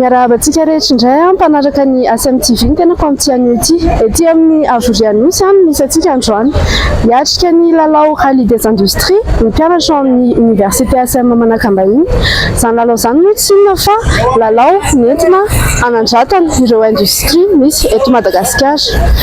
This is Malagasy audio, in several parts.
Miarahaba antsika rehetra indray an, mpanaraka ny ACM TV ny tenako amin'ity anio ity. Ety amin'ny Avorianosy an, misy antsika androany. Hiatrika ny lalao Rallye des Industries ny mpianatra ao amin'ny Université ACM Manakambahiny. Izany lalao izany moa tsy inona fa lalao nentina hanandratana ireo industrie misy eto Madagasikara.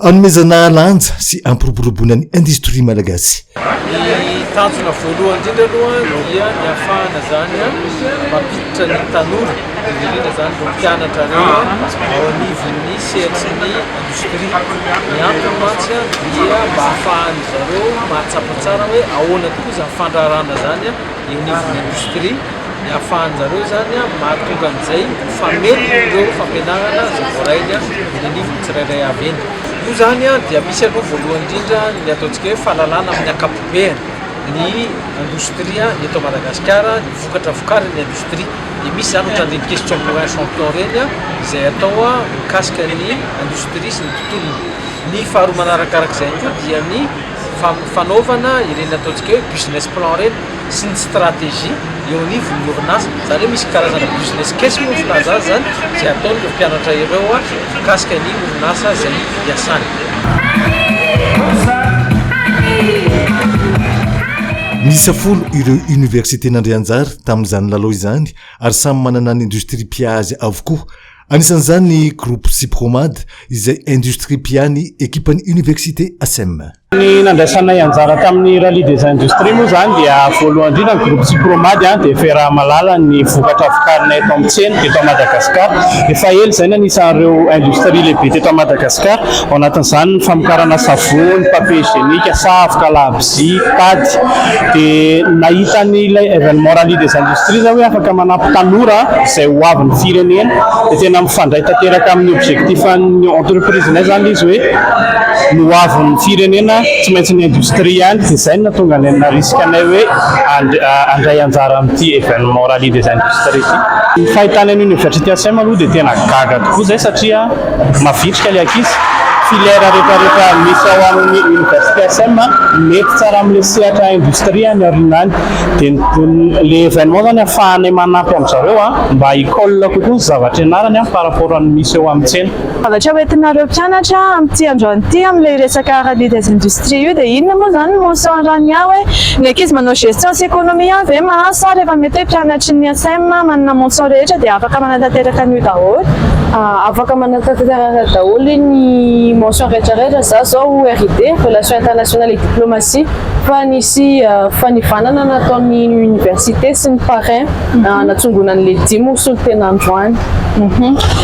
Anomezana lanja sy hampiroboroboana ny industrie malagasy. Ny tanjona voalohany indrindra aloha dia ny hahafahana izany mampiditra ny tanora, indrindra izany ireo mpianatra ireo ao anivon'ny sehatry ny industrie. Ny antony mantsy dia mba hahafahan-dry zareo mahatsapa tsara hoe ahoana tokoa izany fandraharahana izany eo anivon'ny industrie. Ny ahafahanjareo izany mahatonga an'izay ho famelony ireo fampianarana izay voarainy eny anivon'ny tsirairay avy eny. Io izany dia misy aloha voalohany indrindra ny ataontsika hoe fahalalana amin'ny ankapobeny ny indostria ny eto Madagasikara, ny vokatra vokarin'ny indostria. Dia misy izany ohatran'ny ireny questions pour un champion ireny izay atao mikasika ny indostria sy ny tontolony. Ny faharoa manarakarak'izay koa dia ny fanaovana ireny ataontsika hoe business plan ireny. sy ny stratégie eo anivon'ny orinasa, izany hoe misy karazana business case moa ny filaza azy izany izay ataon'ireo mpianatra ireo mikasika ny orinasa izay hiasany. Miisa folo ireo université nandray anjara tamin'izany lalao izany ary samy manana ny industrie mpiazy avokoa. Anisan'izany ny groupe Sypromad izay industrie mpiahy ny ekipan'ny université Asem. Ny nandraisanay anjara tamin'ny Rallye des Industries moa izany dia voalohany indrindra ny groupe Sypromad dia firaha-malala ny vokatra vokarinay eto amin'ny tsena eto Madagascar. Efa ela izay no anisan'ireo industrie lehibe teto Madagascar, ao anatin'izany ny famokarana savony, papier hygienique, savoka, labozia, tady. Dia nahita an'ilay événement Rallye des Industries aho hoe afaka manampy tanora izay ho avin'ny firenena, dia tena mifandray tanteraka amin'ny objectif-n'ny entreprise-nay izany ilay izy hoe. Ny ho avin'ny firenena tsy maintsy ny industrie ihany, izay no nahatonga anay narisika anay hoe handray anjara amin'ity événement rallye des industries ity. Ny fahitana ny Université Asem aloha dia tena gaga tokoa izay satria mavitrika ilay ankizy, filière rehetrarehetra misy ao amin'ny Université Asem mety tsara amin'ilay sehatra industrie any aoriana any. Dia ilay événement izany ahafahanay manampy an-dry zareo mba hi-colle kokoa ny zavatra ianarany par rapport amin'ny misy eo amin'ny tsena. Zavatra ho entinareo mpianatra amin'ity androany ity amin'ilay resaka rallye des industries io dia inona moa izany no saoran'i aho hoe ny ankizy manao gestion sy économie ihany ve mahazo sa rehefa mety hoe mpianatry ny ISM manana mention rehetra dia afaka manatanteraka an'io daholo? Afaka manatanteraka daholo ny mention rehetra rehetra za zao RID, Relations Internationales et Diplomatie, fa nisy fanivanana nataon'ny université sy ny parrain. Hanatsongonan'ny legioma ho solontena androany.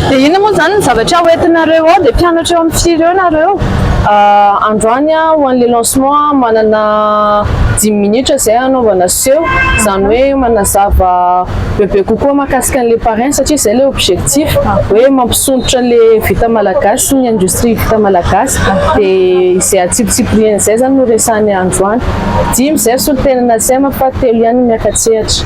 Dia inona moa izany ny zavatra hoentinareo ao? Dia mpianatra eo amin'ny firy eo ianareo? Androany ho an'ilay lancement manana dimy minitra izay hanaovana seho, izany hoe manazava bebe kokoa mahakasika an'ilay parrain satria izay ilay objectif hoe mampisondrotra ilay vita malagasy sy ny industrie vita malagasy. Dia izay atsipitsipirihina izay izany no resahanay androany. Dimy izay solontena na tsy hay manko fa telo ihany no miaka-tsehatra.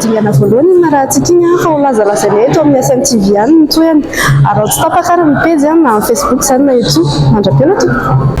Dingana voalohany iny narahantsika iny fa ho lazalazaina eto amin'ny SMTV any ny tohiny. Araho tsy tapaka ary ny pejy na amin'ny Facebook izany na YouTube. Mandra-pela tompoko.